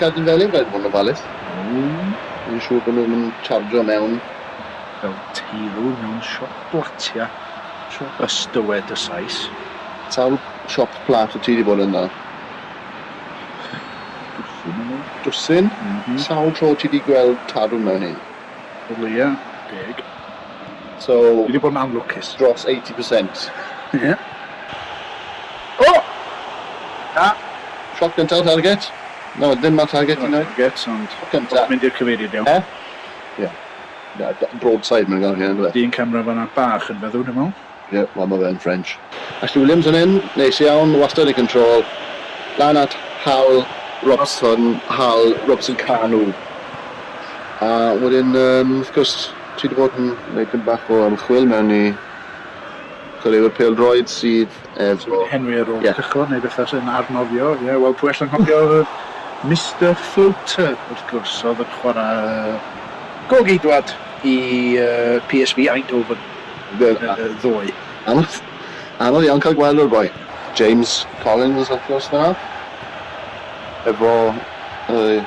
Gad i Felin rhaid fod yn ofalus. Iawn. Ni'n siŵr bod nhw ddim yn chargio mewn. Fel teirw mewn siop blatia. Siop? Ys dywed y Sais. Sawl siop plat wyt ti wedi bod ynddo? Dwsin o leia. Dwsin? M-hm. Sawl tro ti wedi gweld tarw mewn un? Wel ie, deg. So... Fi wedi bod yn anlwcus. Dros 80%. Ie. Yeah. O! Na. Shot gyntaf target. No, ddim ar target i nawr. Target, ond... Shot gyntaf. Mynd i'r cyfeiriad iawn. Eh? Ie. Yeah. Broadside mae'n gael hyn, ynddo fe? Dyn camera fanna bach yn feddw, dwi'n meddwl. Ie, wel ma fe'n French. Ashley Williams yn hŷn, neis iawn, wastad yn control. Lan at Hal Robson, Hal Robson Kanu. A wedyn yym wrth gwrs ti 'di bod yn neud tym bach o ymchwil mewn i chwaraewyr pêl-droed sydd efo... Henry ar ôl cychod neu beth arall yn arnofio, ie, wel pwy all anghofio Mister Floater wrth gwrs, o'dd yn chwara' gôl-geidwad i yy PSV Eindhoven. Y ddwy. Anodd, anodd iawn cael gweld o'r boi. James Collins wrth gwrs fan'na. Efo ei,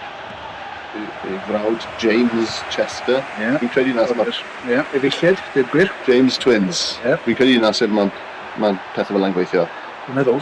ei frawd James Chester. Yeah. Fi'n credu na sef... Ie, efeilliaid, deud gwir. James Twins. Yeah. Fi'n credu na sef ma, ma pethau fel 'na'n gweithio. Dwi'n meddwl.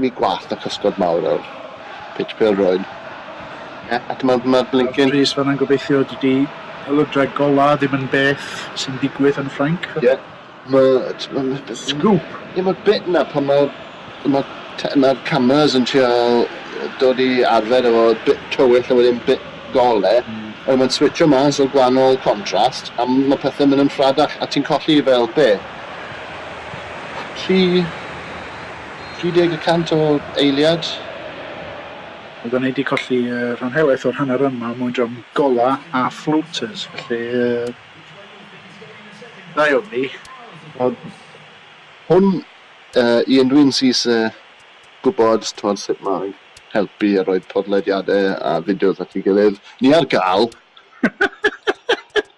Ni gwallt a chysgod mawr yw'r pitch pêl-droed. Ie, ac ma' ma'r blincin... Wel Rhys, fan'na'n gobeithio dydi pêl-droed golau ddim yn beth sy'n digwydd yn Ffrainc. Ie, ma' t'mod ma' beth... Sgŵp! Ie, ma'r bit 'na pan ma' ma' te- ma'r cameras yn trial dod i arfer efo bit tywyll a wedyn bit gole, a wedyn ma'n switsio mas o gwahanol contrast, a ma' pethe'n mynd yn rhadach, a ti'n colli fel be', tri 30 y cant o eiliad. Oeddan ni 'di colli rhan helaeth o'r hanner run 'ma er mwyn drom gola a floaters, felly da iawn ni. Wel, hwn i un dwi'n syth gwybod sut mae'n helpu a rhoi podlediadau a fideos at ei gilydd. Ni ar gael!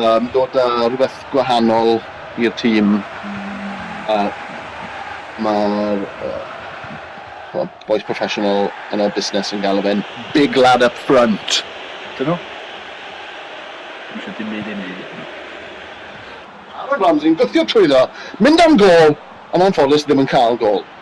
Um, dod â rhywbeth gwahanol i'r tîm. Uh, Mae'r uh, boys professional yn y busnes yn galw fe'n big lad up front. Dyn nhw? Dwi'n eisiau dim byd i ni. Aaron Ramsey'n gwthio trwyddo, mynd am gol, ond anffodus ddim yn cael gol.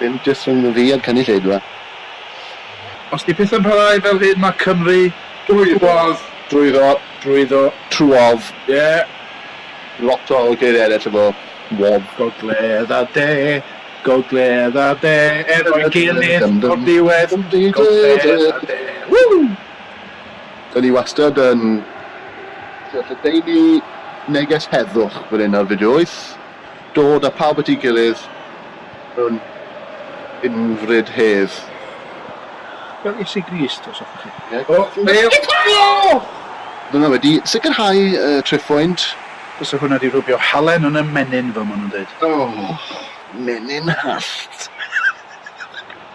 Dim jyst rhwng fi a'r cynulleidfa. Os di pethau'n parhau fel hyn mae Cymru drwodd. Drwyddo. Drwyddo. Trwodd. Ie. Lot o geiriau eraill efo wodd. Gogledd a de, gogledd a de efo'i gilydd o'r diwedd, gogledd a de. Woo! Dan ni wastad yn lledaenu neges heddwch fan hyn ar Fideo Wyth. Dod â pawb at ei gilydd mewn unfryd hedd. Fel Iesu Grist, os hoffech chi. Ie. O! Mew! Dyna fe, 'di sicrhau y triphoint. Bysa hwnna 'di rwbio halen yn 'y menyn fel ma' nhw'n deud. O! Menyn hallt!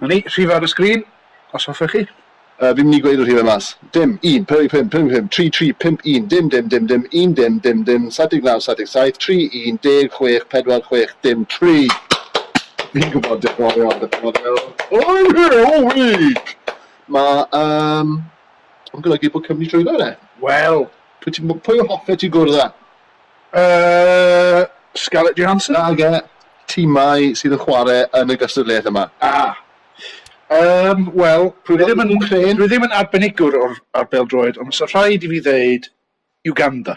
'Na ni, rhifau ar y sgrin, os hoffech chi. Yy, fi'n mynd i gweud y rhifau mas. Dim, un, pump, pump, pump, pump, tri, tri, pump, un, dim, dim, dim, dim, un, dim, dim, dim, saith deg naw, saith deg saith, tri, un, deg, chwech, pedwar, chwech, dim, tri. Fi'n gwybod, diolch yn fawr iawn, diolch yn fawr iawn. I'm here all week! Mae, yym, yn golygu bod Cymru trwyddo fe. Wel, pwy ti, pwy hoffet ti gwrdd â? Yy, Scarlett Johansson? Nage, timau sydd yn chwarae yn y gystadleuaeth yma. A! Yym, wel, dwi ddim yn Wcrên. Dwi ddim yn arbenigwr o'r ar bêl-droed, ond fysa rhaid i fi ddeud Uganda.